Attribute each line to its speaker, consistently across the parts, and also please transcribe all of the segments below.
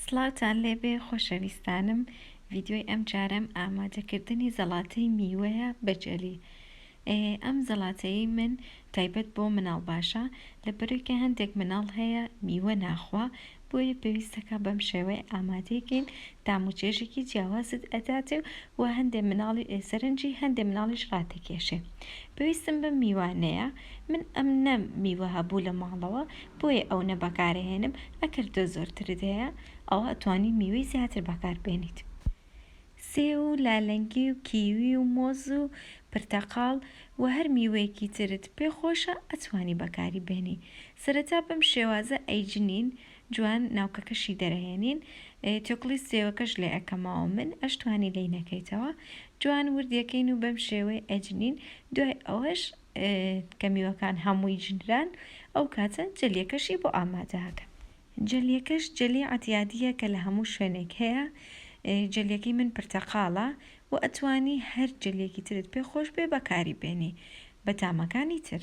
Speaker 1: سڵاوتان لێبێ خۆشەویستانم ڤیدیۆی ئەم جارەم ئامادەکردنی زەڵاتەی میوەیە بە جەلی ئەم زەڵاتەیەی من تایبەت بۆ مناڵ باشە لەبەرەوەی کە هەندێک مناڵ هەیە میوە ناخوا بۆیە پێویستەکە بەم شێوەیە ئامادەی کەین تام و چێژێکی جیاوازت ئەداتێ و هەندێ مناڵی سەرنجی هەندێ مناڵیش ڕاتەکێشێ پێویستم بەم میوانەیە من ئەم نەم میوە هەبوو لە ماڵەوە بۆیە ئەو نە بەکارەهێنم ئەکەر تۆ زۆرترت هەیە ئەوا ئەتوانی میوەی زیاتر بەکار بێنیت سێو و لالەنگی و کیوی و مۆز و پرتەقاڵ و هەر میوەیەکی ترت پێ خۆشە ئەتوانی بەکاری بێنی سەرەتا بەم شێوازە ئەیجنین جوان ناوکەکەشی دەرەهێنین تێکوڵی سێوەکەش لێ ئەکەمەوە من ئەشتوانی لێی نەکەیتەوە جوان وردی ئەکەین و بەم شێوەی ئەجنین دوای ئەوەش کە میوەکان هەمووی ژنران ئەو کاتە جەلیەکەشی بۆ ئامادە ئەکەن جەلیەکەش جەلی عەتیادیە کە لە هەموو شوێنێک هەیە جەلیەکەی من پرتەقاڵە و ئەتوانی هەر جەلیەکی ترت پێ خۆش بێ بەکاری بێنی بە تامەکانی تر.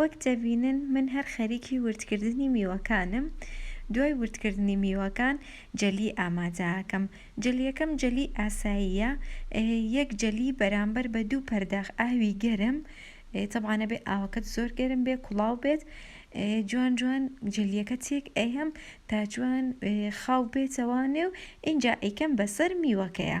Speaker 1: وەک دەبینن من هەر خەریکی وردکردنی میوەکانم، دوای وردکردنی میوەکان جەلی ئامادە ئەکەم، جەلیەکەم جەلی ئاساییە یەک جەلی بەرامبەر بە دوو پەرداخ ئاوی گەرم تەبعا ئەبێ ئاوەکەت زۆر گەرم بێت کوڵاو بێت جوان جوان جەلیەکە تێک ئەیەم تا جوان خاو بێتەوە نێو ئینجا ئەیکەم بەسەر میوەکەیا.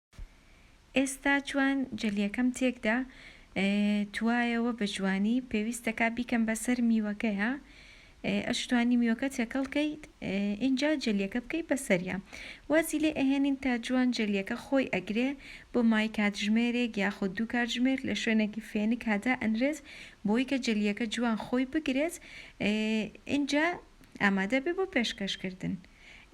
Speaker 1: ئێستا جوان جەلیەکەم تێکدا توایەوە بە جوانی پێویستەکا بیکەم بەسەر میوەکەیا ئەشتوانی میوەکە تێکەڵ کەیت ئینجا جەلیەکە بکەی بەسەریا وازی لێ ئەهێنین تا جوان جەلیەکە خۆی ئەگرێ بۆ مای کاتژمێرێک یاخود دوو کاتژمێر لە شوێنێکی فێنک هادا ئەنرێت بۆی کە جەلیەکە جوان خۆی بگرێت ئینجا ئامادە بێ بۆ پێشکەشکردن.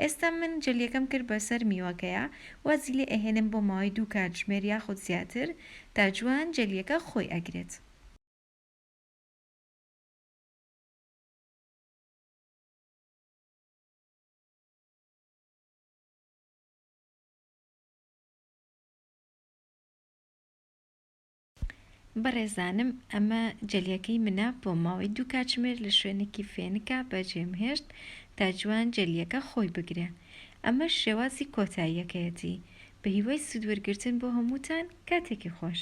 Speaker 1: ئێستا من جەلیەکەم کرد بەسەر میوەکەیا وازی لێ ئەهێنم بۆ ماوەی دوو کاتژمێر یاخود زیاتر تا جوان جەلیەکە خۆی ئەگرێت. بەڕێزانم ئەمە جەلیەکەی منە بۆ ماوەی دوو کاتژمێر لە شوێنێکی فێنکا بەجێم هێشت تا جوان جەلیەکە خۆی بگرێ ئەمەش شێوازی کۆتاییەکەیەتی بە هیوای سود وەرگرتن بۆ هەمووتان کاتێکی خۆش.